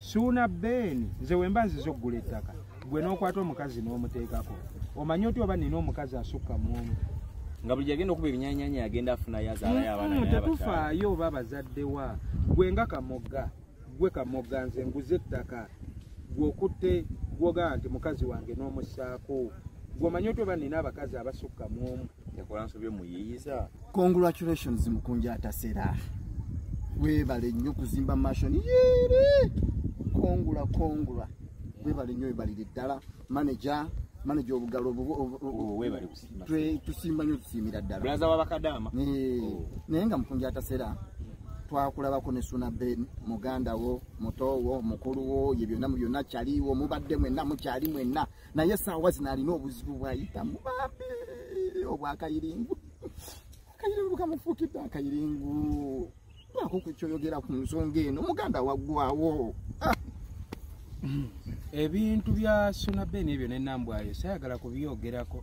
suuna ben nze wemba nziza okugula ettaka gwe n'okwata omukazi n'omuteekako omanyi otya oba nina omukazi asukka muomu nga buli agenda okuba ebinyanyanya agenda afunayo azaalayo abaana mm, tetufaayo oba bazaddewa gwe nga kamogga gwe kamogga nze nguze ettaka gweokutte gwogaa nti mukazi wange n'omussaako gweomanyi otya oba nina abakazi abasukka muomu yakola nsobye muyiyiza congratulations mukunja atasera webale nnyo kuzimba mashon yere kongula kongula webale nnyo webalire ddala maneja maneja obugalo oh, tusimba nyo tusiimira ddalawabakadama oh. naye nga mukunja atasera twakulabako ne suna ben muganda wo muto wo mukulu wo ye byonna mu byonna kyaliwo mubadde mwenna mukyali mwenna naye saawa zino alina obuzibu bwayitamu bambi obwakayiringu akayiringu kamufuukidde akayiringu baako ku kyoyogera ku nsonga eno muganda waggwawo ah! ebintu bya suna ben ebyo nenambwayo sayagala kubyogerako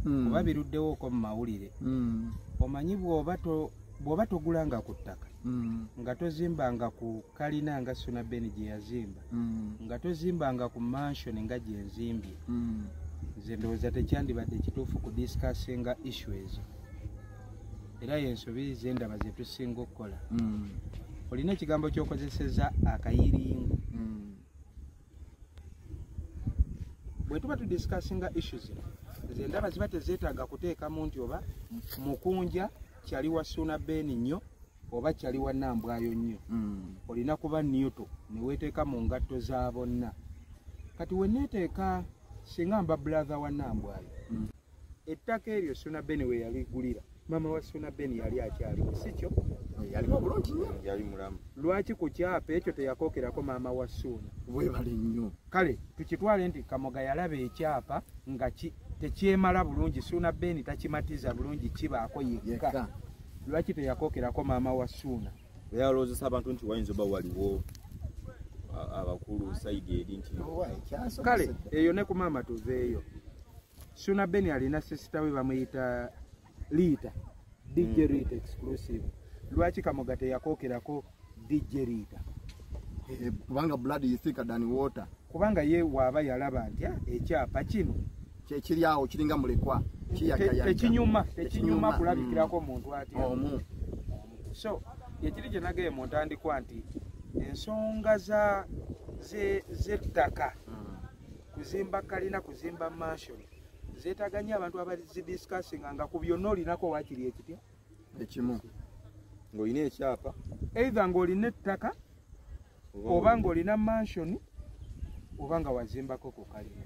hmm. kuba biruddewooko mu mawulire hmm. omanyi bwoba togulanga ku ttaka hmm. nga tozimbanga ku kalina nga suna ben gyeyazimba mm. nga tozimbanga ku mansion nga gyenzimbye mm. nze ndowooza tekyandibadde kituufu ku discussinga issu ezo era yensobi zendaba zetusinga okukola mm. olina ekigambo kyokozeseza akayiringu bwetuba tudiscussinga issu zino nze ndaba ziba tezeetaaga kuteekamu nti oba mukunja kyali wa suna ben nnyo oba kyali wanambwayo nnyo mm. olina kuba newto neweteeka mu ngatto za bonna kati weneteeka singa mba blathe wanambwayo mm. ettaka eryo suna beni weyaligulira mama wa suna beni yali akyaliwo sikyo yalimu bulungi nnyo yali mulamu lwaki ku kyapa ekyo teyakookerako maama wa suuna webale nnyo kale tukitwale nti kamoga yalaba ekyapa nga tekyemala bulungi suuna beeni takimatiza bulungi kibaako yekka lwaki teyakokerako maama wa suuna yalowozesa abantu nti wayinza oba waliwo abakulu saidi eri nti kale eyo ne ku maama tuveeyo suuna beni alina sisita we bamuyita liita dj mm. rita exclusive lwaki kamoga teyakokerako DJ Rita eh, kubanga blood is thicker than water kubanga ye waaba yalaba nti ah, ekyapa kino kyekiri awo kiringa mulekwa tekinyuma tekinyuma kulabikirako mm. omuntu ati omu so yekiri gye nagaye mu ntandikwa nti ensonga za z'ettaka mm. kuzimba kalina kuzimba mansion zeetaganya abantu abazidiscussinga nga ku byonna olinako wakiri ekitya ekimu ng'olina ekyapa eitha ng'olina ettaka oba ng'olina mansioni oba nga wazimbako ku kalina